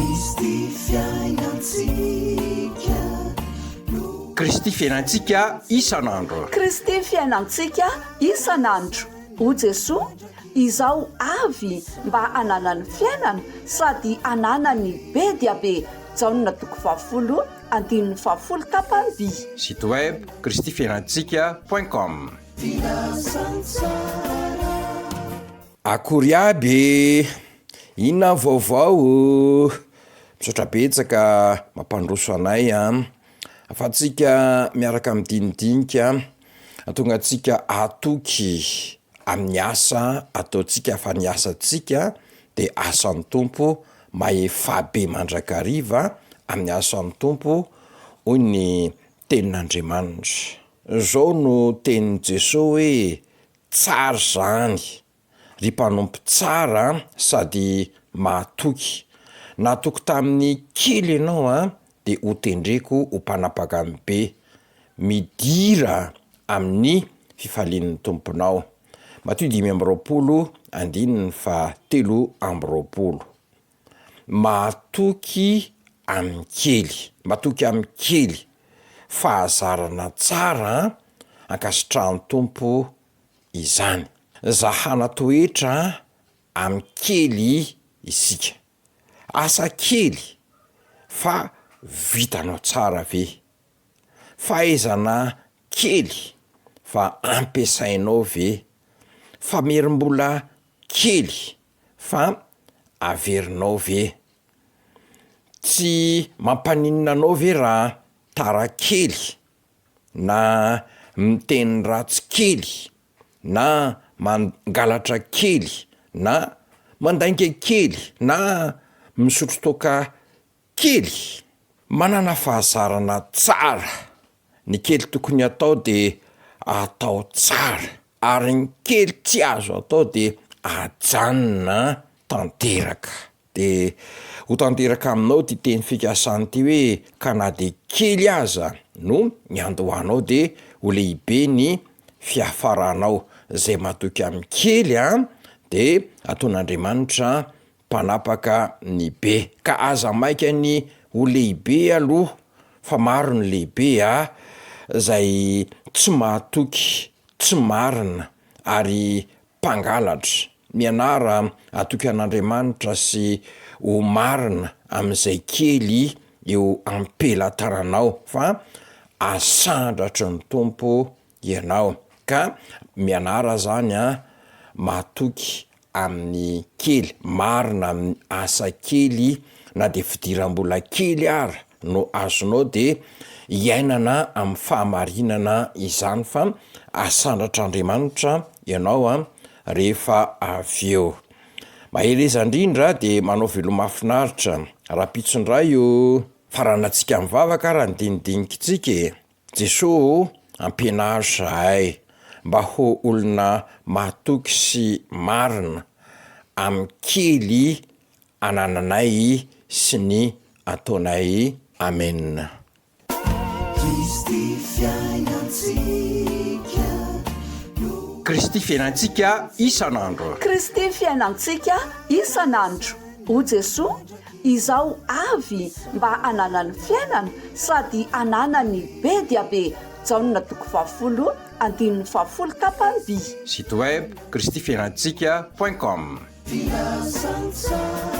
Kristy fiainantsika no. Kristy fiainantsika isan'andro. Kristy fiainantsika isan'andro. O Jesoa, izaho avy mba hananany fiainana sady hananany be dia be. Jaona toko fahafolo andininy fahafolo tapany-by. Site web, Kristy fiainantsika point com. Filazantsara. Akory aby e! Inona ny vaovao oh? Misaotra betsaka mampandroso anay a, afatsika miaraka midinidinika ahatonga antsika hatoky amin'ny asa ataontsika fa ny asantsika de asan'ny Tompo mahefabe mandrakariva amin'ny asan'ny Tompo hoy ny tenin'Andriamanitra. Zao no tenin'i Jesoa hoe, tsara zany. ry mpanompo tsara sady mahatoky. Nahatoky tamin'ny kely ianao an, dia hotendreko ho mpanapaka amin'ny be. Midira amin'ny fifalian'ny Tomponao. Matio dimy amby roapolo andininy faha telo amby roapolo. Mahatoky amin'ny kely, matoky amin'ny kely. Fahazarana tsara an, ankasitrahan'ny Tompo izany. Za hanatoetra amin kely isika. Asa kely fa vitanao tsara ve? Fahaizana kely fa ampiasainao ve? Famerim-bola kely fa averinao ve? Tsy mampaninona anao ve raha tara kely na miteny ratsy kely na mangalatra kely na mandainga kely na misotro toaka kely. Manana fahazarana tsara. Ny kely tokony atao de atao tsara ary ny kely tsy azo atao de ajanona tanteraka. De ho tanteraka aminao ity teny fikasany ity hoe ka na de kely aza no niandohanao de ho lehibe ny fiafaranao, zay matoky amin'ny kely a de ataon'Andriamanitra mpanapaka ny be, ka aza maika ny ho lehibe aloha fa maro ny lehibe a, zay tsy mahatoky tsy marina ary mpangalatra, mianara atoky an'Andriamanitra sy ho marina amin'izay kely eo am-pelatananao fa asandratry ny Tompo ianao. Ka mianara zany an, matoky amin'ny kely, marina amin'ny asa kely na dia fidiram-bola kely ara no azonao dia iainana amin'ny fahamarinana izany fa asandratr'Andriamanitra ianao a rehefa avy eo. Mahereza indrindra dia manao veloma mahafinaritra. Rahampitso indray o! Faranantsika mivavaka ary handinidinikintsika e! Jesoa o! Ampianaro izahay mba ho olona mahatoky sy marina amin'ny kely anananay sy ny ataonay Amen. Kristy fiainantsika no. Kristy fiainantsika isan'andro. Kristy fiainantsika isan'andro. O Jesoa, izaho avy mba hananany fiainana sady hananany be dia be Jaona toko fahafolo andininy fahafolo tapany by. Site web, kristyfiainantsika point com. Fiasantsara.